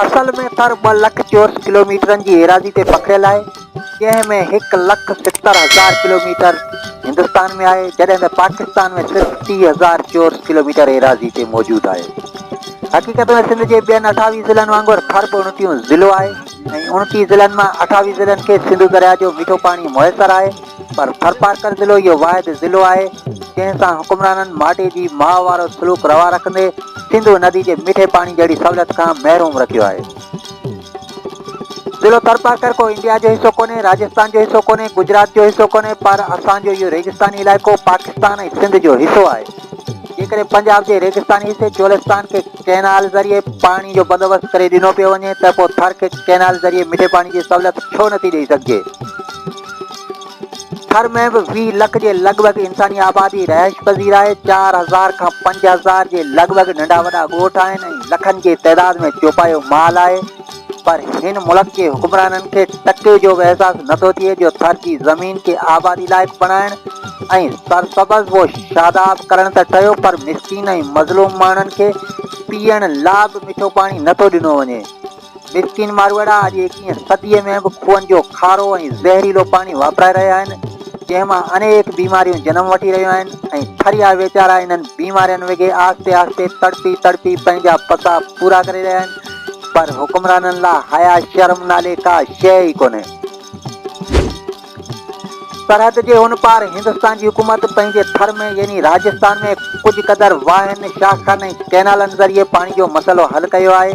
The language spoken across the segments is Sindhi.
اصل ۾ ٿر ٻه لک چورس ڪلوميٽرن جي ايراضي تي پکڙيل آهي، جنهن ۾ هڪ لک ستر هزار ڪلوميٽر هندستان ۾ آهي، جڏهن ته پاڪستان ۾ صرف ٽيهه هزار چورس ڪلوميٽر ايراضي تي موجود آهي. حقيقت ۾ سنڌ جي ٻين اٺاويهه ضلعن وانگر ٿر به اڻٽيهون ضلعو آهي ۽ اڻٽيهه ضلعن مان اٺاويهه ضلعن کي سنڌو درياهه جو مٺو پاڻي ميسر آهي، پر ٿرپارڪر ضلعو اهو واحد ضلعو آهي، جنهن سان حڪمرانن ماٽي جي ماء وارو سلوڪ روا رکندي سنڌو ندي جي مٺي پاڻي جهڙي سهولت کان محروم رکيو آهي. ضلعو ٿرپارڪر ڪو انڊيا جو حصو ڪونهي، راجستان جو حصو ڪونهي، گجرات جو حصو ڪونهي، پر اسان جو اهو ريگستاني علائقو پاڪستان ۽ سنڌ جو حصو آهي. جيڪڏهن پنجاب جي ريگستاني حصي چولستان کي ڪئنال ذريعي پاڻي جو بندوبست ڪري ڏنو پيو وڃي ته پوء ٿر کي ڪئنال ذريعي مٺي پاڻي جي سهولت ڇو نٿي ڏئي سگهجي؟ ٿر ۾ به ويهه لک جي لڳ ڀڳ انساني آبادي رهائش پذير آهي، چار هزار کان پنج هزار جي لڳ ڀڳ ننڍا وڏا ڳوٺ آهن ۽ لکن جي تعداد ۾ چوپايو مال آهي. پر هن ملڪ جي حڪمرانن کي ٽڪي جو به احساس نه ٿو ٿئي جو ٿر جي زمين کي آبادي لائق بڻائڻ ۽ سرسبز و شاداب ڪرڻ ته ٺهيو پر مسڪين ۽ مظلوم ماڻهن کي پيئڻ لا به مٺو پاڻي نه ٿو ڏنو وڃي. مسڪين ماروئڙا اڄ ايڪيهين صديء ۾ به کوهن جو کارو ۽ زهريلو پاڻي واپرائي رهيا آهن جنهن مان انيڪ بيماريون جنم وٺي رهيون آهن ۽ ٿريا ويچارا انهن بيمارين وگهي آهستي آهستي تڙپي تڙپي پنهنجا پسا پورا ڪري رهيا آهن. پر حڪمرانن لا حيا شرم نالي ڪا شيء ئي ڪونهي. سرحد جي هن پار هندستان جي حڪومت پنهنجي ٿر ۾ يعني راجستان ۾ ڪجهه قدر واهن، شاخن ۽ ڪئنالن ذريعي پاڻي جو مسئلو حل ڪيو آهي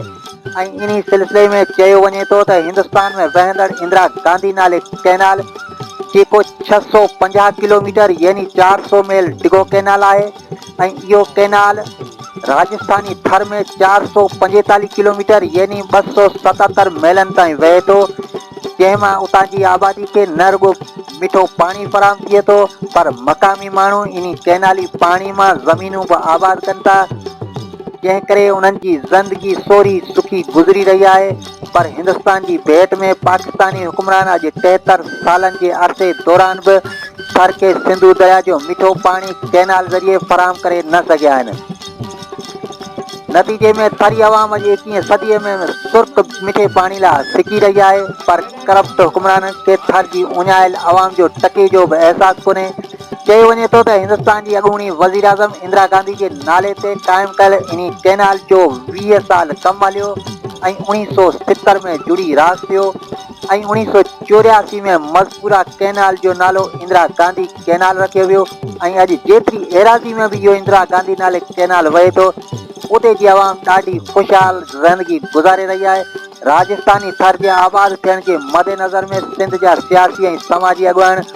۽ انهي سلسلي ۾ چيو وڃي ٿو ته هندستان ۾ وهندڙ اندرا گانڌي نالي ڪئنال جيڪو ڇهه سؤ پنجاهه ڪلوميٽر يعني چار سؤ ميل ڊگهو ڪئنال آهي، ۽ اهو ڪئنال راجسٿاني ٿر ۾ چار سؤ پنجيتاليهه ڪلوميٽر يعني ٻه سؤ ستتر ميلن تائين وهي ٿو جنهن مان اتان جي آبادي کي نه رڳو مٺو پاڻي فراهم ٿئي ٿو پر مقامي ماڻهو انهي ڪئنالي پاڻي مان زمينون به آباد ڪن ٿا جنهن ڪري انهن جي زندگي سوري سکي گذري رهي آهي پر هندستان جي ڀيٽ ۾ پاڪستاني حڪمران اڄ ٽيهتر سالن جي عرصي دوران به ٿر کي سنڌو درياء جو مٺو پاڻي ڪئنال ذريعي فراهم ڪري نه سگهيا آهن. نتيجي ۾ ٿري عوام اڄ ايڪيهين صديء ۾ سرخ مٺي پاڻي لا سڪي رهي آهي پر ڪرپٽ حڪمرانن کي ٿر جي اڃايل عوام جو ٽڪي جو به احساس ڪونهي. چيو وڃي ٿو ته هندستان جي اڳوڻي وزيراعظم اندرا گانڌي جي نالي تي قائم ڪيل انهي ڪئنال جو ويهه سال ڪم هليو ۽ اوڻيهه سؤ ستر ۾ جڙي راس ٿيو ۽ اوڻيهه سؤ چورياسي ۾ مذڪوره ڪئنال جو نالو اندرا گانڌي ڪئنال رکيو ويو ۽ اڄ جيتري ايراضي ۾ به اهو اندرا گانڌي نالي ڪئنال وهي ٿو اتي جي عوام ڏاڍي خوشحال زندگي گذاري رهي آهي راجسٿاني ٿر جي آباد ٿيڻ جي مدنظر ۾ سنڌ جا سياسي ۽ سماجي اڳواڻ